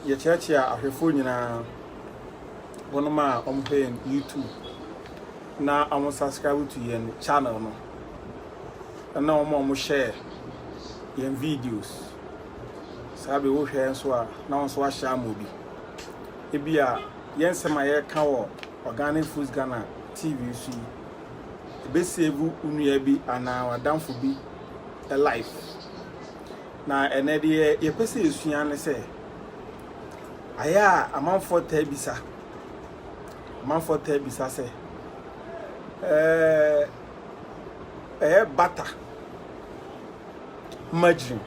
yɛkyeakyea ahwɛfoɔ nyinaa wɔnom a wɔhwɛ yɛn youtube na wɔn subscribe to yɛn channel no ɛna wɔn a wɔn hyɛ yɛn videos saa bɛ wohwɛ nso a na wɔn nso ahyɛ ama obi ebi a yɛn nsɛm a yɛka wɔ organic foods ghana tv so yi ebe save nnua bi anaa wadanfo bi life na ɛnɛ deɛ yɛpɛ sɛ yɛsua ne sɛ ayɛ a amanfoɔ taa bisa Amanfoɔ taa bisa sɛ, Ɛyɛ bata, margarine,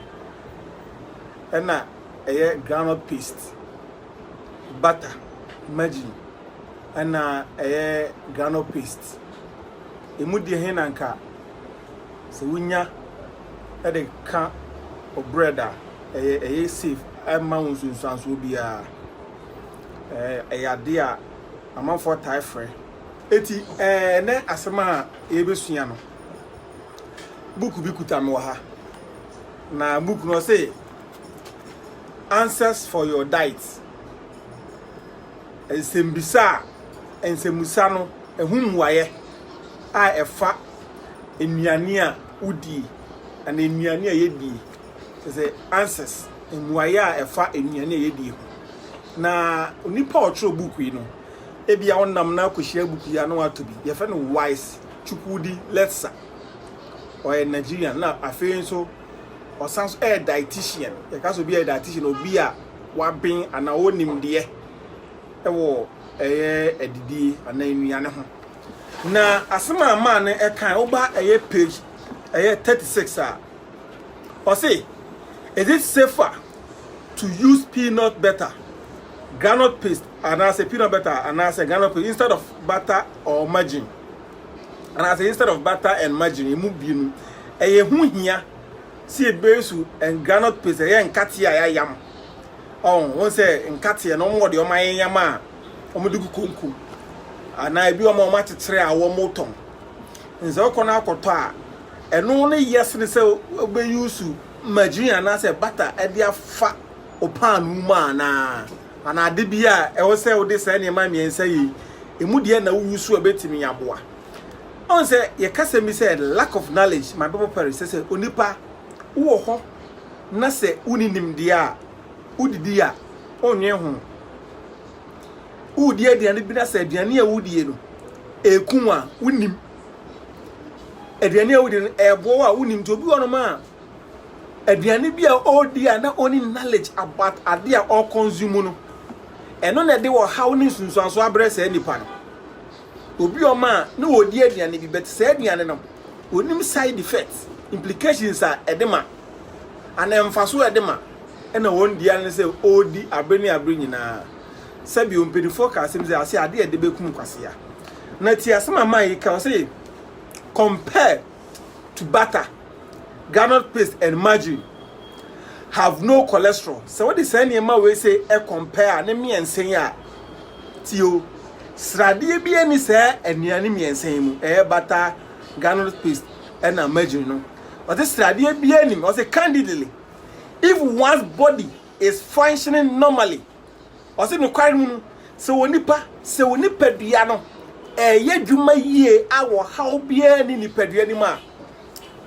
ɛna ɛyɛ groundnut paste, bata, margarine, ɛna ɛyɛ groundnut paste. Emu deɛ he na nka sɛ wonya de ka o bread a, ɛyɛ ɛyɛ safe, ɛmma wo nsunsuansoɔ biara. ɛyɛ adeɛ a amanfoɔ taa frɛ. Enti ɛnnɛ asɛm a yɛrebɛsua no, book bi kuta me wɔ ha. Na book no ɔse Answers for your diet. Nsɛmbisa a nsɛmmusa no ɛho mmuaeɛ a ɛfa nnuane a wodie anaa nnuane a yɛdie The Answers, Mmuaeɛ a Ɛfa Nnuane a Yɛdie Ho. Na onipa a ɔtwerɛ buku yi no, ebia wonam no akɔhyia buku yi a na watɔ bi. Yɛfrɛ no Wise Chukwudi Letsa. Ɔyɛ Nigerian na afei nso ɔsan so yɛ dietitian. Yɛka sɛ obi yɛ dietitian, obi a waben anaa ɔwɔ nimdeɛ wɔ ɛyɛ adidie anaa nnuane ho. Na asɛm a maa no ɛkan woba ɛyɛ page ɛyɛ 36 a Ɔse, is it safer to use peanut butter, groundnut paste anaasɛ peanut butter anaasɛ groundnut paste instead of butter or margarine? Anaasɛ instead of butter and margarine, emu bienu. Ɛyɛ ho hia sɛ ebesu groundnut paste, ɛyɛ nkateɛ a yɛayam. Ɔn, wɔn sɛ nkateɛ no, wɔn wɔ deɛ wɔn ayɛyam a wɔde gu konko. Anaa ebi wɔn a wɔakyekyere a wɔtɔn. Sɛ wokɔ no akɔtɔ a, ɛno no yɛ sene sɛ wobɛyusu margarine anaasɛ bata de afa wo paanoo mu anaa? Anaa ade bi a ɛwɔ sɛ wode saa nneɛma mmiɛnsa yi, ɛmu deɛ na woyusu a ɛbɛtumi aboa? Ɔn sɛ yɛka sɛm bi sɛ lack of knowledge, my Bible perish, sɛ sɛ onipa wowɔ hɔ na sɛ wonni nimdeɛ a, wodidi a, wonnwen ho. Woredi aduane bi na sɛ aduane a wodie no ɛku wo a, wonim. Aduane a wodie no ɛboɔ a wonim. Nti obi wɔ nom a aduane bi a ɔredi a na ɔni knowledge about ade a ɔreconsume no. Ɛno na ɛde ɔhaw ne nsunsuanso abrɛ saa nipa no. Obi wɔ a na ɔredi aduane bi but saa aduane no onim side effects, implications a ɛde ma. anaa mfaso a ɛde ma na wɔn di ara ne sɛ ɔredi abere ne abere nyinaa. Sɛbio, mpanimfoɔ ka asɛm sɛ, ase adeɛ a ɛde bɛkum kwasea. Na ti asɛm a Mayi ka, ɔse, Compared to butter, groundnut paste and margarine have no cholesterol. Sɛ wode saa nneɛma wei sɛ ɛcompare a ne mmiɛnsa yi a, tio, sradeɛ bi ani saa nnuane mmiɛnsa yi mu, ɛyɛ butter, groundnut paste, Ɛna Imagine no, ɔse sradeɛ biara nnim, ɔse candidly, if one's body is functioning normally, ɔse nokware mu no, sɛ onipa, sɛ wo nipadua no ɛɛyɛ adwuma yie a ɔhaw biara nni nipadua no mu a,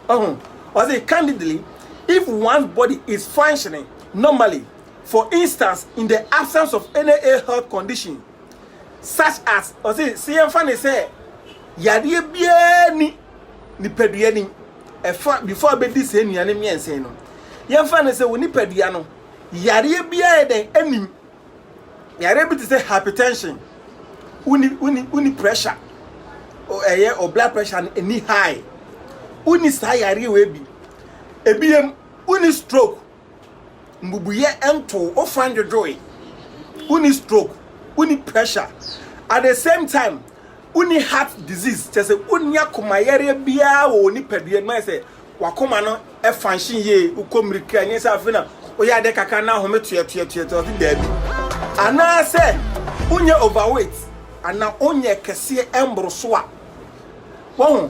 ɔho, ɔse candidly, if one's body is functioning normally, for instance, in the absence of any ill health condition, such as, ɔse sɛ yɛmfa no sɛ yadeɛ biara nni, nipadua ni. Ɛfa before abɛdi saa nnuane mmiɛnsa yi no, yɛmfa no sɛ wo nipadua no yareɛ bi ayɛ dɛn anim. Yareɛ bi te sɛ hypertension, woni woni woni pressure, o- ɛyɛ o blood pressure no ɛni high. Woni saa yareɛ wei bi. Ebiem, woni stroke. Mbubuiɛ ntoo wo fine dwodwoe, wonni stroke, wonni pressure, at the same time wonni heart disease, kyerɛ sɛ wonni akoma yareɛ biara wɔ wo nipadua no mu, ayɛ sɛ wakoma no function yie, wokɔ mmirika, ɛnyɛ sɛ afei na woyɛ adeɛ kakra na ahome toɛtoɛtoɛtoɛ, ɔse daabi. Anaasɛ wonyɛ overweight anaa wonyɛ kɛseɛ mboro so a, wahu.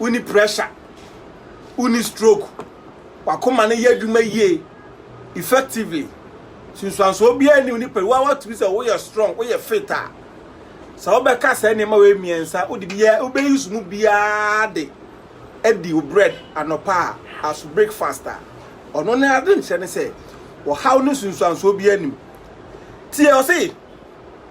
wonni pressure, wonni stroke, w'akoma no yɛ adwuma yie effectively. Nsunsuansoɔ biara nni wo nipadua a watumi sɛ woyɛ strong, woyɛ fit a. Sɛ wobɛka saa nneɛma wei mmiɛnsa, wode biara wobɛyi so mu biara de adi wo bread anɔpa a as breakfast a. Ɔno ne ade nkyerɛ ne sɛ ɔhaw ne nsunsuansoɔ biara nim. Tie ɔse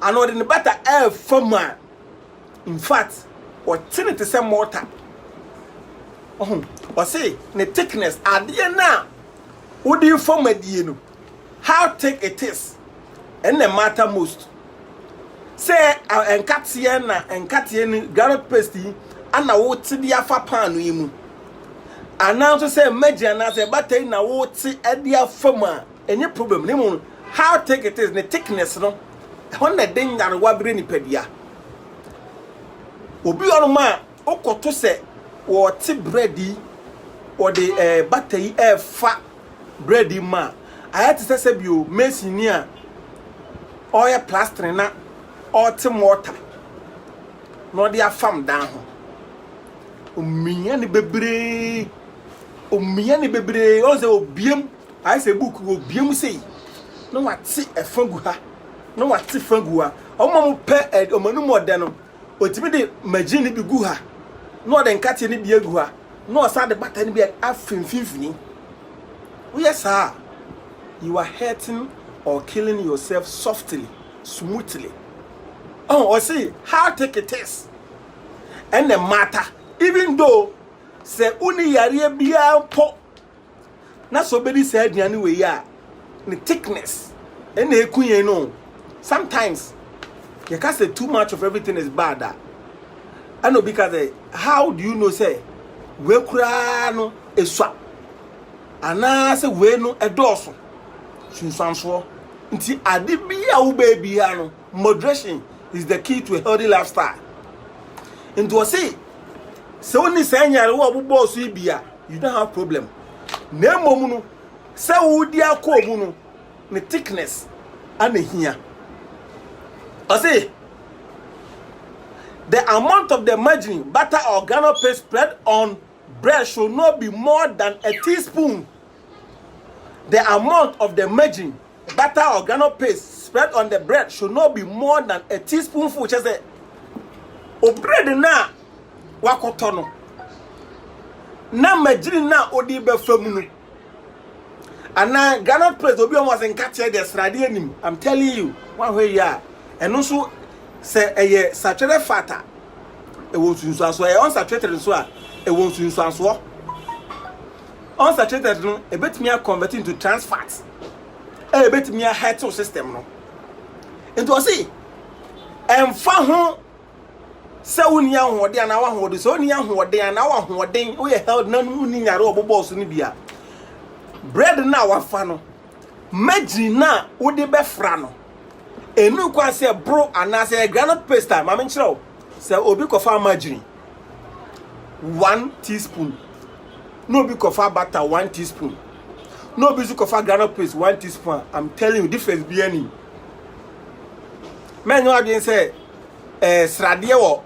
Anaa ɔde ne bata refa mu a, infact, ɔte no te sɛ mortar. Ɔho, ɔse ne thickness, adeɛ no a wode refa mu adie no, how thick it is, ɛna matter most. Sɛ nkateɛ na nkateɛ no groundnut paste yi ana wote de afa paano yi mu, anaa nso sɛ mmagya anaa sɛ bata yi na wote de afa mu a, Ɛnyɛ problem na mmom how thick it is, ne thickness no, ɛhɔ na ɛde nyarewa brɛ nipadua. Obi wɔ hɔnom a wokɔto sɛ wɔte bread yi, wɔde ɛɛ bata yi ɛrefa bread yi mu a, ayɛ te sɛ sɛbio mason ni a ɔreyɛ plastering na ɔrete mortar na ɔde afam dan ho. Omia ne bebree, omia ne bebree, ɔn sɛ obiem. Ayɛ sɛ book wɔ bue mu sei na wate ɛfa gu ha na wate fa gu ha ɔmo a ɔmo pɛ ɛ ɔmo anum ɔdɛ no otumi de magyin no bi gu ha na ɔde nkateɛ no bi agu ha na ɔsan de bata no bi afi mfimfini woyɛ saa a you are hurting or killing yourself softly smoothly ɔn ɔsi how take it is ɛna matter even though sɛ wonni yareɛ biara mpo. na sɛ obedi saa aduane wei a ne thickness ɛna eku yɛn no sometimes yɛka sɛ too much of everything is bad a ɛna obi ka sɛ how do you know sɛ wei koraa no esua anaasɛ wei no ɛdɔɔso sunsuansoɔ nti ade bi a wobɛɛ biara no moderation is the key to a healthy lifestyle nti ɔse sɛ wonni saa nyarewa a ɔbobɔɔ so yi bi a you don't have problem na mmom no sɛ wodi akɔɔ mu no ne thickness ana hia ɔse the amount of the margarine butter or granule paste spread on bread should not be more than a teaspoon the amount of the margarine Butter or groundnut paste spread on the bread should not be more than a teaspoonful. Kyɛ sɛ obread no a wakɔtɔ no na magyiri no a ɔde bɛfa mu no anaa groundnut paste obi ɔmo ase nkateɛ deɛ sradeɛ nim i'm telling you wahwɛ yie a ɛno nso sɛ ɛyɛ satwerɛ fat a ɛwɔ nsunsuansoɔ ɛyɛ unsaturated nso a ɛwɔ nsunsuansoɔ unsaturated no ebetumi akɔnvɛti into trans fat. ɛbɛtumi ahɛte wo system no nti ɔse ɛmfa ho sɛ wonni ahoɔden anaa wahoɔden sɛ wonni ahoɔden anaa wahoɔden woyɛ health na wonni nyare ɔbobɔɔ so no bi a bread no a wafa no magyin no a wode bɛfra no ɛnu kwan sɛ boro anaasɛ granite paste a ma menkyerɛ wo sɛ obi kɔfa magyin one teaspoon na obi kɔfa butter one teaspoon na obi nso kɔfa groundnut paste one teaspoon a i'm telling you difference bi ani mɛnyɛ adwene sɛ ɛɛ eh, sradeɛ wɔ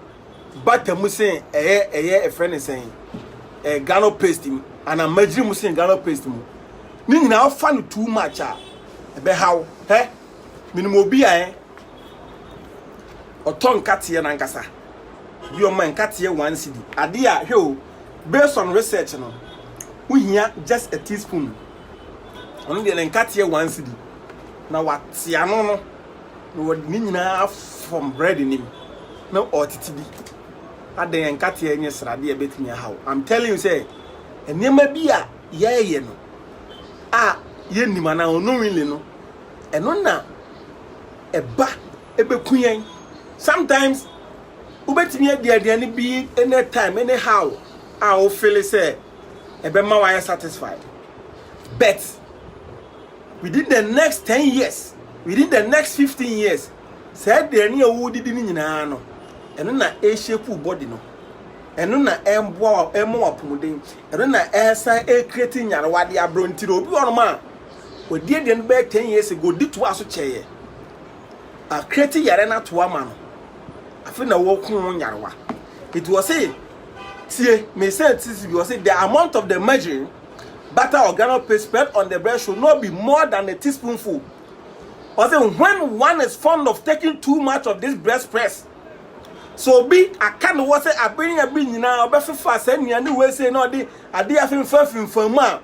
butter mu sen ɛyɛ ɛyɛ ɛfrɛ ne sɛn ɛɛ eh, groundnut paste mu ana magyiri mu sen groundnut paste mu ne nyinaa ɔfa no too much a ɛbɛhaw hɛ Menim obi a eh, ɔtɔ nkateɛ nankasa, bi ɔma nkateɛ one cedi. Adeɛ a, hwɛ o, based on research no, wohia just a teaspoon. Ɔno deɛ ne nkateɛ one cedi, na wate ano no, na wɔde ne nyinaa afɔm bread nim, na ɔretete bi. Adɛn nkateɛ nyɛ sradeɛ a ɛbɛtumi aha wo? I'm telling you sɛ, nneɛma bi a yɛyɛ no a yɛnnim anaa unknowingly no, Ɛno na ɛba ɛbɛku yɛn. Sometimes wobɛtumi adi aduane bi any time any how a wo feel sɛ ɛbɛma wayɛ satisfied but within the next ten years within the next fifteen years saa aduane a wodidi no nyinaa no ɛno na ɛreshape body no ɛno na ɛmboa ɛmɔ wapɔmuden ɛno na ɛsan ɛrekreti nyarewa de aberɛntire obi wɔnom a Ɔdii aduane no bɛyɛ ten years ago, ɔde toaa so kyɛeɛ. Akreti yare no ato ama no. Afei na wɔko ho nyarewa. Nti wɔ se, tie, mesa tisi bi, wɔ se, the amount of the margarine, butter or groundnut paste spread on the bread should not be more than a teaspoonful. Wɔ se, when one is fond of taking too much of this bread spreads, so obi aka ne wɔ se, abere ne abere nyinaa ɔbɛfefa saa nnuane wei sei na ɔde adeɛ afemfa fimfam a,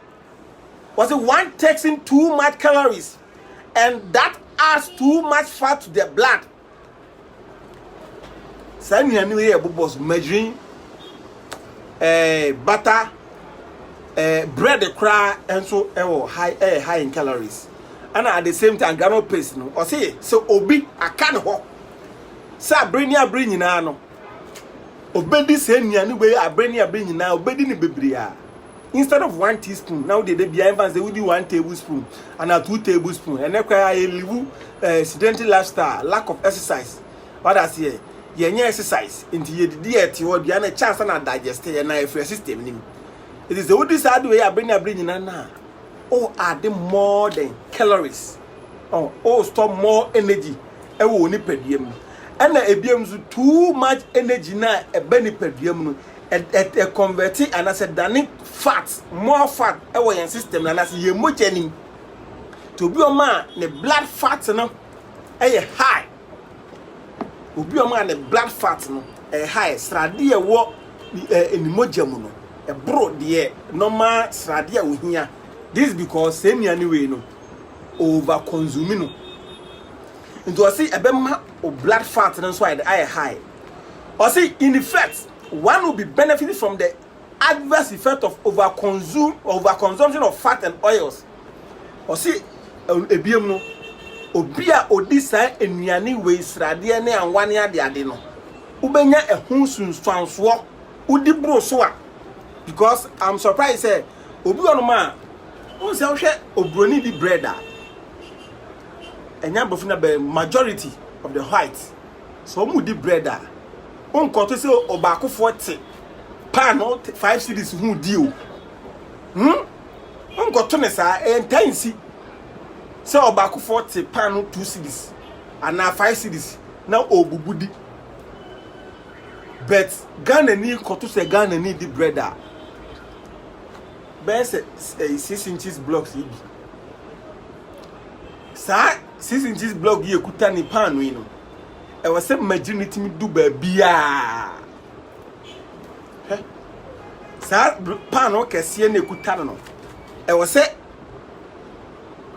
Wɔse one takes in too much calories and that adds too much fat to the blood. Saa nnuane wei yɛ bobɔ so margarine, eh, butter, eh, bread koraa nso ɛwɔ high ɛyɛ high in calories. And at the same time granola paste no ɔse sɛ obi aka ne hɔ sɛ abere ne abere nyinaa no obedi saa nnuane wei abere ne abere nyinaa obedi ne bebree a instead of one teaspoon na wode da bia ɛmfa sɛ wodi one tablespoon anaa two tablespoon ɛnɛ kora yɛ liwu uh, eh, sedentary lifestyle lack of exercise wada aseɛ yɛnyɛ exercise nti yɛdidi ɛte hɔ aduane na ɛkyɛ ansa na digest yɛ na ɛfiri system nim ɛti sɛ wodi saa de wei abere ne abere nyinaa na o add more than calories oh, o store more energy ɛwɔ nipadua mu ɛna ebiam nso too much energy na ɛbɛ nipadua mu no ɛ convert anaasɛ dane fat more fat wɔ yɛn system no anaasɛ yɛn mogya nim nti obi ɔma a ne blood fat no yɛ high obi ɔma a ne blood fat no yɛ high sradeɛ ɛwɔ ne mogya mu no ɛboro deɛ normal sradeɛ a ohia this because sɛ nnuane wei no over consume no nti ɔsi ɛbɛma o blood fat no nso ayɛ high. Ɔse in effect one will be benefiting from the adverse effect of over consume over consumption of fat and oils. Ɔse ebiem no obi a odi saa nnuane wei sradeɛ ne anwa ne ade ade no wobɛnya ɛho sunsuansoɔ wodi boro so a because I'm surprised sɛ obi wɔ no ma wɔn sɛ wohwɛ obroni di bread a ɛnyɛ abrɔfo na bɛ majority of the whites Sɛ wɔredi bread a, wonkɔto sɛ ɔbaakofoɔ te paano five cities ho di o. Hmm? Wonkɔto ne saa, ɛyɛ ntaa nsi sɛ ɔbaakofoɔ te paano two cities anaa five cities na ɔrebubu di. But Ghanani kɔto sɛ Ghanani di bread a, bɛyɛ sɛ eh, six inches blocks yi bi. Saa Six Inches Blog yi ekuta ne paano yi no, ɛwɔ sɛ magyiri no tumi du baabiara. Hwɛ, saa paano kɛseɛ na ekuta no no, ɛwɔ sɛ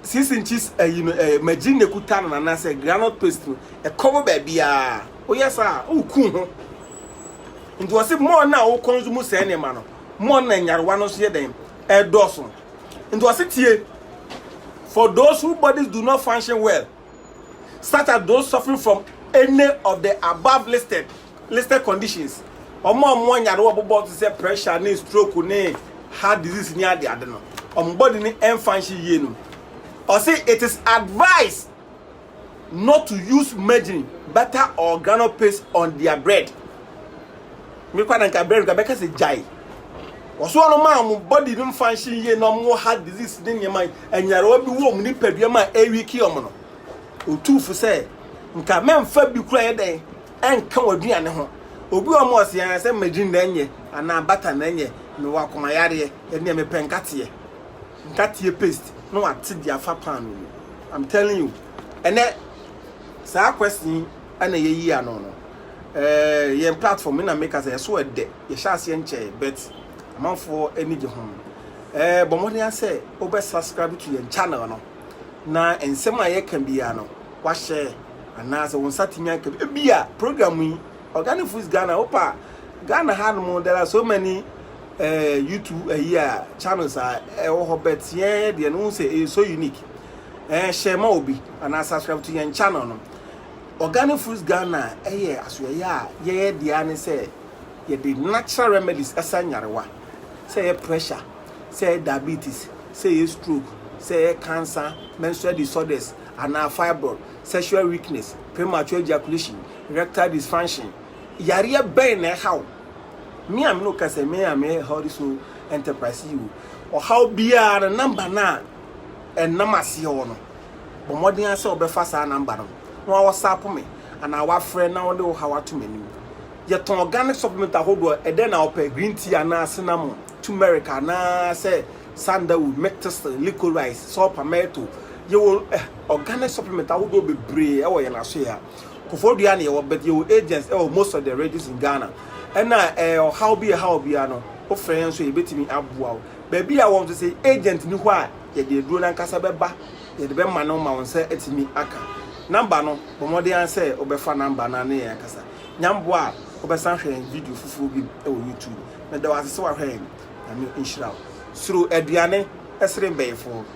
six inches ayi no ɛɛ magyiri na ekuta no anaasɛ granite paste no ɛkɔ wɔ baabiara. Woyɛ saa a, woku ho. Nti wɔsi mɔɔ no a wokɔ nso mu sɛɛ nneɛma no, mɔɔ no na nyarewa no nso yɛ dɛn ɛdɔɔso. Nti ɔse tie, for those who bodies do not function well, such as those suffering from any of the above listed listed conditions, ɔmo a ɔmo anyare wɔ bobɔ te sɛ pressure ne stroke ne heart disease ne ade ade no, ɔmo body ne ɛnfunction yie no, ɔse it is advised not to use margarine, butter or groundnut paste on their bread. Me kwa na nka bread ka bɛka sɛ gyae. Wɔso wɔn ma wɔn body no function yie na wɔn heart disease ne nneɛma anyarewa bi wɔ wɔn nipadua mu a ɛrewiki wɔn no. Otu fo sɛ nka mɛmfa bi kura yɛ dɛn ɛnka wɔn aduane ho. Obi wɔ mu ɔse sɛ margarine na ɛnyɛ anaa butter na ɛnyɛ mewɔ akomayareɛ ɛnneɛ mepɛ nkateɛ. nkateɛ paste na wate de afa paano mu I'm telling you ɛnɛ saa question yi ɛna yɛyi ano no eh, yɛn platform na meka sɛ ɛso ɛdɛ yɛhyɛ aseɛ nkyɛɛ but amanfoɔ ani gye ho eh, bɔ mmɔden asɛ wobɛ subscribe to yɛn channel no na nsɛm a yɛka biara no wahyɛ anaasɛ wo nsa tumi aka bi a program yi organic foods ghana wopa ghana ha no mu there are so many eh YouTube ayi a channels a ɛwɔ hɔ but yɛn deɛ no sɛ ɛyɛ so unique eh hyɛ ma obi anaa subscribe to yɛn channel no organic fruits Ghana ɛyɛ asoɛyɛ a yɛyɛ deɛ ne sɛ yɛde natural remedies ɛsa nyarewa sɛ ɛyɛ pressure sɛ ɛyɛ diabetes sɛ ɛyɛ stroke sɛ ɛyɛ cancer menstrual disorders anaa fibroid sexual weakness premature ejaculation erectile dysfunction Yareɛ bɛn na ɛha wo? Me a me ne wo kasa me a meyɛ Healthy Soul Enterprise CEO. Ɔhaw biara no number no a ɛnam aseɛ hɔ no, bɔ mmɔden ara sɛ wobɛfa saa number no na wa WhatsApp me anaa wafrɛ na wode wo haw ato m'anim. Yɛtɔn organic supplement ahodoɔ, ɛdɛn na wopɛ, green tea anaa cinnamon, turmeric anaa sɛ sandalwood, milk thistle, licorice, saw palmetto. Yɛwɔ eh, organic supplement ahodoɔ bebree wɔ yɛn asoeɛ ha. Kofoɔ Duah ne yɛwɔ but yɛwɔ agents ɛwɔ most of the regions in Ghana ɛna ɛɛ ɔhaw bi ɛhaw obiara no wofrɛ yɛn nso yɛbɛtumi aboa wo baabi a wɔn nso sɛ agent ni hɔ a yɛde aduro no ankasa bɛba yɛde bɛma no ma wo nsa atumi aka number no bɔ mmɔden ara sɛ wobɛfa number no ne yɛn akasa nyamboa a wobɛsan hwɛ yɛn video foforɔ bi ɛwɔ YouTube meda wo ase sɛ wahwɛ yɛn nyame nhyira wo soro aduane ɛsere mbɛyifoɔ.